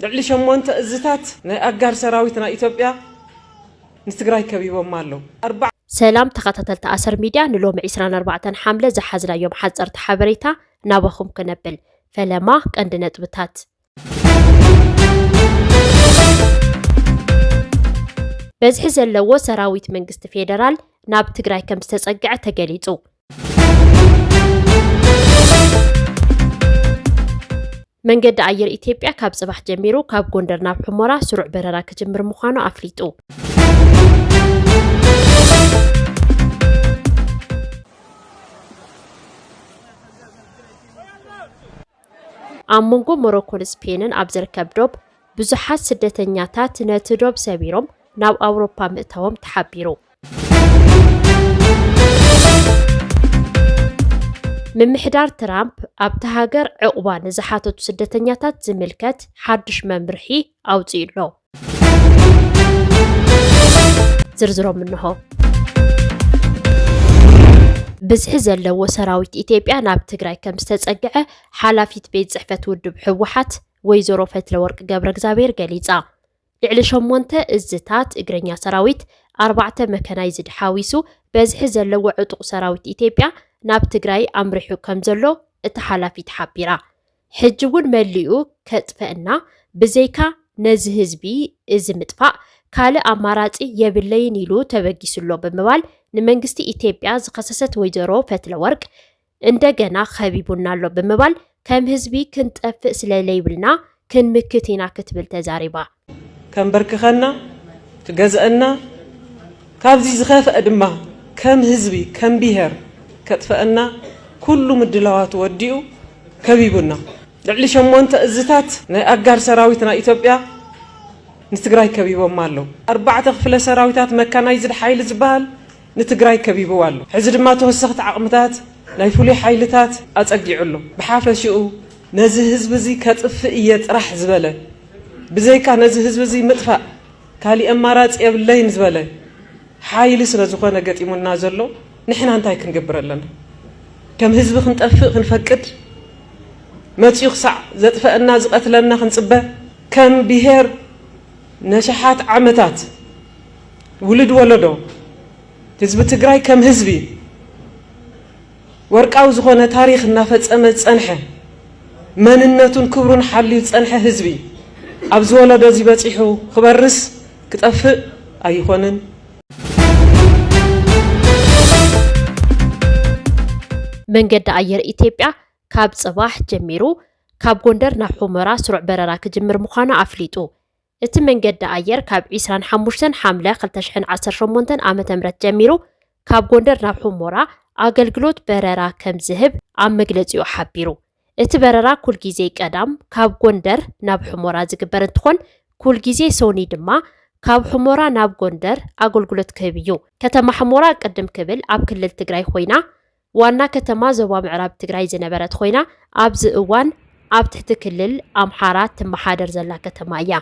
ልዕሊ ሸሞንተ እዝታት ናይ ኣጋር ሰራዊት ናይ ኢትዮጵያ ንትግራይ ከቢቦማ ኣለዉ። ሰላም ተኸታተልቲ ኣሰር ሚድያ ንሎሚ 24 ሓምለ ዝሓዝናዮም ሓፀርቲ ሓበሬታ ናባኹም ክነብል ፈለማ ቀንዲ ነጥብታት በዝሒ ዘለዎ ሰራዊት መንግስቲ ፌደራል ናብ ትግራይ ከምዝተፀግዐ ተገሊፁ። መንገዲ ኣየር ኢትዮጵያ ካብ ጽባሕ ጀሚሩ ካብ ጎንደር ናብ ሑሞራ ስሩዕ በረራ ክጅምር ምዃኑ ኣፍሊጡ። ኣብ መንጎ ሞሮኮን ስፔንን ኣብ ዝርከብ ዶብ ብዙሓት ስደተኛታት ነቲ ዶብ ሰቢሮም ናብ ኣውሮፓ ምእታዎም ተሓቢሩ። ምምሕዳር ትራምፕ ኣብቲ ሃገር ዕቑባ ንዝሓተቱ ስደተኛታት ዝምልከት ሓድሽ መምርሒ ኣውፂኡ ኣሎ። ዝርዝሮም እንሆ። ብዝሒ ዘለዎ ሰራዊት ኢትዮጵያ ናብ ትግራይ ከም ዝተጸግዐ ሓላፊት ቤት ጽሕፈት ውድብ ህወሓት ወይዘሮ ፈትለወርቅ ገብረ እግዚኣብሔር ገሊጻ። ልዕሊ ሸሞንተ እዝታት እግረኛ ሰራዊት ኣርባዕተ መከናይዝድ ሓዊሱ በዝሒ ዘለዎ ዕጡቕ ሰራዊት ኢትዮጵያ ናብ ትግራይ ኣምሪሑ ከም ዘሎ እታ ሓላፊት ሓቢራ። ሕጂ ውን መሊኡ ከጥፈእና ብዘይካ ነዚ ህዝቢ እዚ ምጥፋእ ካልእ ኣማራጺ የብለይን ኢሉ ተበጊሱ'ሎ ብምባል ንመንግስቲ ኢትዮጵያ ዝኸሰሰት ወይዘሮ ፈትለወርቅ እንደገና ከቢቡና'ሎ ብምባል ከም ህዝቢ ክንጠፍእ ስለለይብልና ክንምክት ኢና ክትብል ተዛሪባ። ከንበርክኸና ክገዝኣና ካብዚ ዝኸፍኣ ድማ ከም ህዝቢ ከም ብሄር ከጥፈኣና ኩሉ ምድላዋቱ ወዲኡ ከቢቡና ልዕሊ ሸሞንተ እዝታት ናይ ኣጋር ሰራዊት ናይ ኢትዮጵያ ንትግራይ ከቢቦማ ኣለዉ ኣርባዕተ ክፍለ ሰራዊታት መካናይዝድ ሓይሊ ዝበሃል ንትግራይ ከቢቡዋ ኣሎ። ሕዚ ድማ ተወሰኽቲ ዓቕምታት ናይ ፍሉይ ሓይልታት ኣፀጊዑ ኣሎ። ብሓፈሽኡ ነዚ ህዝቢ እዚ ከጥፍእ እየ ጥራሕ ዝበለ ብዘይካ ነዚ ህዝቢ እዚ ምጥፋእ ካሊእ ኣማራፂ የብለይን ዝበለ ሓይሊ ስለዝኾነ ገጢሙና ዘሎ ንሕና እንታይ ክንገብር ኣለና? ከም ህዝቢ ክንጠፍእ ክንፈቅድ? መፂኡ ክሳዕ ዘጥፈአና ዝቐትለና ክንፅበ? ከም ብሄር ነሽሓት ዓመታት ውልድ ወለዶ ህዝቢ ትግራይ ከም ህዝቢ ወርቃዊ ዝኾነ ታሪኽ እናፈፀመ ዝፀንሐ መንነቱን ክብሩን ሓልዩ ዝፀንሐ ህዝቢ ኣብዚ ወለዶ እዚ በፂሑ ክበርስ ክጠፍእ ኣይኾንን። መንገዲ ኣየር ኢትዮጵያ ካብ ጽባሕ ጀሚሩ ካብ ጎንደር ናብ ሑመራ ስሩዕ በረራ ክጅምር ምዃኑ ኣፍሊጡ። እቲ መንገዲ ኣየር ካብ ዕስራን ሓሙሽተን ሓምለ ክልተ ሽሕን ዓሰርተ ሸሞንተን ዓመተ ምህረት ጀሚሩ ካብ ጎንደር ናብ ሑሞራ ኣገልግሎት በረራ ከም ዝህብ ኣብ መግለጺኡ ሓቢሩ። እቲ በረራ ኩል ግዜ ቀዳም ካብ ጎንደር ናብ ሑሞራ ዝግበር እንትኾን ኩል ግዜ ሶኒ ድማ ካብ ሑሞራ ናብ ጎንደር ኣገልግሎት ክህብ እዩ። ከተማ ሑሞራ ቅድም ክብል ኣብ ክልል ትግራይ ኾይና ዋና ከተማ ዞባ ምዕራብ ትግራይ ዝነበረት ኾይና ኣብዚ እዋን ኣብ ትሕቲ ክልል ኣምሓራ ትመሓደር ዘላ ከተማ እያ።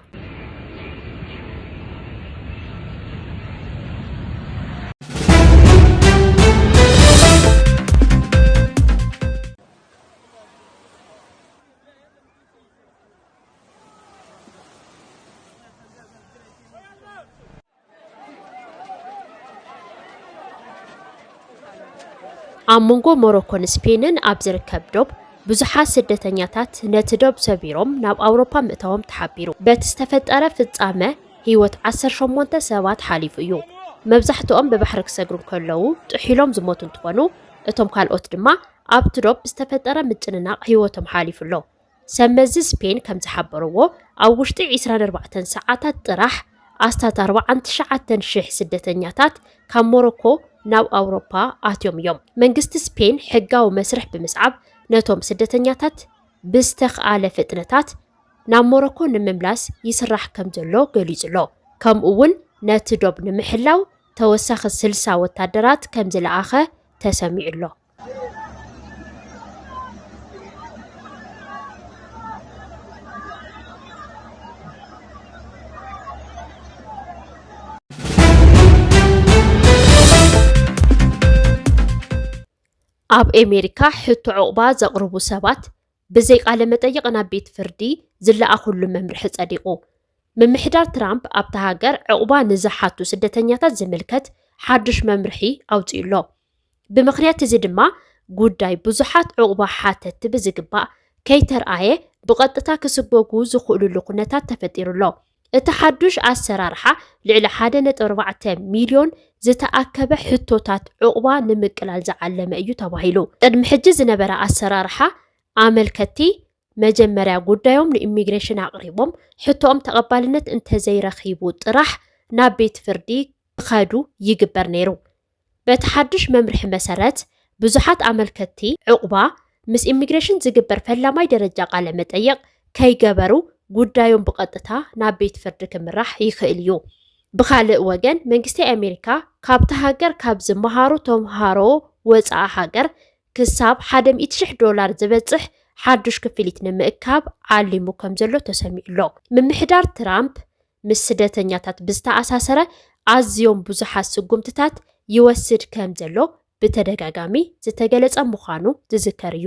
ኣብ መንጎ ሞሮኮን ስፔንን ኣብ ዝርከብ ዶብ ብዙሓት ስደተኛታት ነቲ ዶብ ሰቢሮም ናብ ኣውሮፓ ምእታዎም ተሓቢሩ። በቲ ዝተፈጠረ ፍጻመ ህይወት 18 ሰባት ሓሊፉ እዩ። መብዛሕትኦም ብባሕሪ ክሰግሩ ከለዉ ጥሒሎም ዝሞቱ እንትኾኑ እቶም ካልኦት ድማ ኣብቲ ዶብ ብዝተፈጠረ ምጭንናቕ ህይወቶም ሓሊፉ ኣሎ። ሰብ መዚ ስፔን ከምዝሓበርዎ ኣብ ውሽጢ ዒስራን ኣርባዕተን ሰዓታት ጥራሕ ኣስታት ኣርባዓን ትሽዓተን ሽሕ ስደተኛታት ካብ ሞሮኮ ናብ ኣውሮፓ ኣትዮም እዮም። መንግስቲ ስፔን ሕጋዊ መስርሕ ብምስዓብ ነቶም ስደተኛታት ብዝተኽኣለ ፍጥነታት ናብ ሞሮኮ ንምምላስ ይስራሕ ከምዘሎ ገሊጹ'ሎ። ከምኡ'ውን ነቲ ዶብ ንምሕላው ተወሳኺ ስልሳ ወታደራት ከምዝለኣኸ ተሰሚዑ'ሎ። ኣብ ኣሜሪካ ሕቶ ዑቕባ ዘቕርቡ ሰባት ብዘይ ቃለ-መጠይቕ ናብ ቤት ፍርዲ ዝለኣኹሉ መምርሒ ጸዲቑ። ምምሕዳር ትራምፕ ኣብታ ሃገር ዕቝባ ንዝሓቱ ስደተኛታት ዝምልከት ሓድሽ መምርሒ ኣውጺኡ ኣሎ። ብምኽንያት እዚ ድማ ጉዳይ ብዙሓት ዕቝባ ሓተትቲ ብዝግባእ ከይተርኣየ ብቐጥታ ክስጐጕ ዝኽእሉሉ ኵነታት ተፈጢሩ ኣሎ። እቲ ሓዱሽ ኣሰራርሓ ልዕሊ ሓደ ነጥቢ ኣርባዕተ ሚልዮን ዝተኣከበ ሕቶታት ዑቕባ ንምቅላል ዝዓለመ እዩ ተባሂሉ። ቅድሚ ሕጂ ዝነበረ ኣሰራርሓ ኣመልከቲ መጀመርያ ጉዳዮም ንኢሚግሬሽን ኣቕሪቦም ሕቶኦም ተቐባልነት እንተዘይረኺቡ ጥራሕ ናብ ቤት ፍርዲ ክኸዱ ይግበር ነይሩ። በቲ ሓዱሽ መምርሒ መሰረት፣ ብዙሓት ኣመልከትቲ ዑቕባ ምስ ኢሚግሬሽን ዝግበር ፈላማይ ደረጃ ቃለ መጠይቕ ከይገበሩ ጉዳዮም ብቐጥታ ናብ ቤት ፍርዲ ክምራሕ ይኽእል እዩ። ብኻልእ ወገን መንግስቲ ኣሜሪካ ካብታ ሃገር ካብ ዝመሃሩ ተምሃሮ ወጻኢ ሃገር ክሳብ ሓደ ሚእቲ ሽሕ ዶላር ዝበጽሕ ሓዱሽ ክፍሊት ንምእካብ ዓሊሙ ከም ዘሎ ተሰሚዑ ኣሎ። ምምሕዳር ትራምፕ ምስ ስደተኛታት ብዝተኣሳሰረ ኣዝዮም ብዙሓት ስጉምትታት ይወስድ ከም ዘሎ ብተደጋጋሚ ዝተገለፀ ምዃኑ ዝዝከር እዩ።